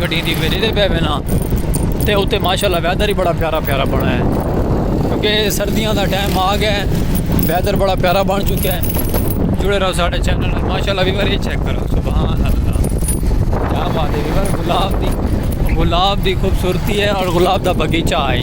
گڈیاں دی ویلے تے بیٹھے نا تے اتے ماشاءاللہ ویدر ہی بڑا پیارا پیارا بنا ہے کیونکہ سردیاں دا ٹائم آ گیا ہے ویدر بڑا پیارا بن چکا ہے جڑے رہو سارے چینل نال ماشاءاللہ ویور یہ چیک کرو سبحان اللہ کیا بات ہے ویور گلاب دی گلاب دی خوبصورتی ہے اور گلاب دا باغیچہ ہے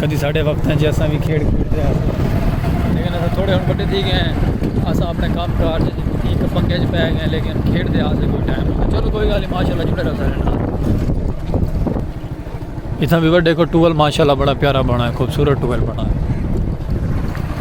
کدی ساڈے وقت ہیں جی اساں وی کھیڈ کھیڈ دے ہاں سن لیکن اساں تھوڑے ہن بڈے تھی گئے ہیں اساں اپنے کام کار جے جی ایک پنگے جے پے گئے لیکن کھیڈ دے ہاں سن کوئی ٹائم نہیں چلو کوئی گل نہیں ماشاءاللہ جڑے رہو سارے نال اتنا بھی بڑے کو ٹول ماشاءاللہ بڑا پیارا بنا ہے خوبصورت ٹول بنا ہے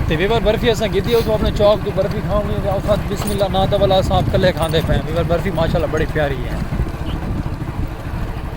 تے ویور برفی اساں گیدی ہو تو اپنے چوک تو برفی کھاؤں گی تے اوقات بسم اللہ نا تو والا اساں کلے کھاندے پے ویور برفی ماشاءاللہ بڑی پیاری ہے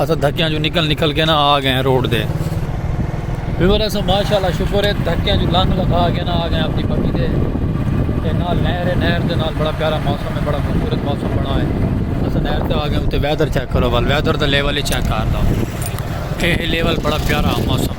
اسا دھکیاں جو نکل نکل کے نا آ گئے روڈ دے ویور اسا ماشاءاللہ شکر ہے دھکیاں جو لنگ لگا کے نا آ گئے اپنی پکی دے تے نال نہر ہے نہر دے نال بڑا پیارا موسم ہے بڑا خوبصورت موسم بنا ہے اسا نہر تے آ گئے تے ویدر چیک کرو بل ویدر دا لیول ہی چیک کر دا اے لیول بڑا پیارا موسم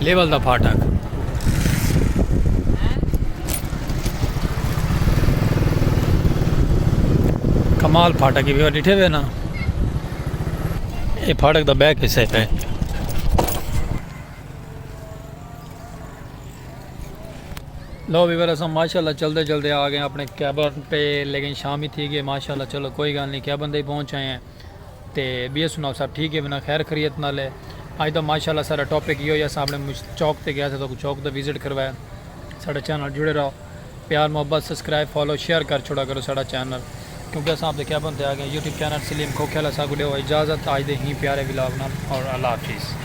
لیول دا پھاٹک۔ کمال پھاٹک ہی ویوہ ڈٹھے ہوئے نا۔ اے پھاٹک دا بیک حصہ پہ۔ لو ویوہ رسا ماشاءاللہ چل دے چل دے آگئے اپنے کیبن پہ لیکن شامی تھی گئے ماشاءاللہ چلو کوئی گال نہیں کیبن دے پہنچ آئے ہیں۔ تے بیئے سناؤ سب ٹھیک ہے ونا خیر خریت نال ہے اج دا ماشاءاللہ سارا ٹاپک یو یا سامنے مجھ چوک تے گیا تھا تو چوک دا وزٹ کروایا سارا چینل جڑے رہو پیار محبت سبسکرائب فالو شیئر کر چھوڑا کرو سارا چینل کیونکہ اساں اپ دے کیبن تے آ گئے یوٹیوب چینل سلیم کھوکھیلا سا کو ڈیو اجازت آج دے ہی پیارے ولاگ نال اور اللہ حافظ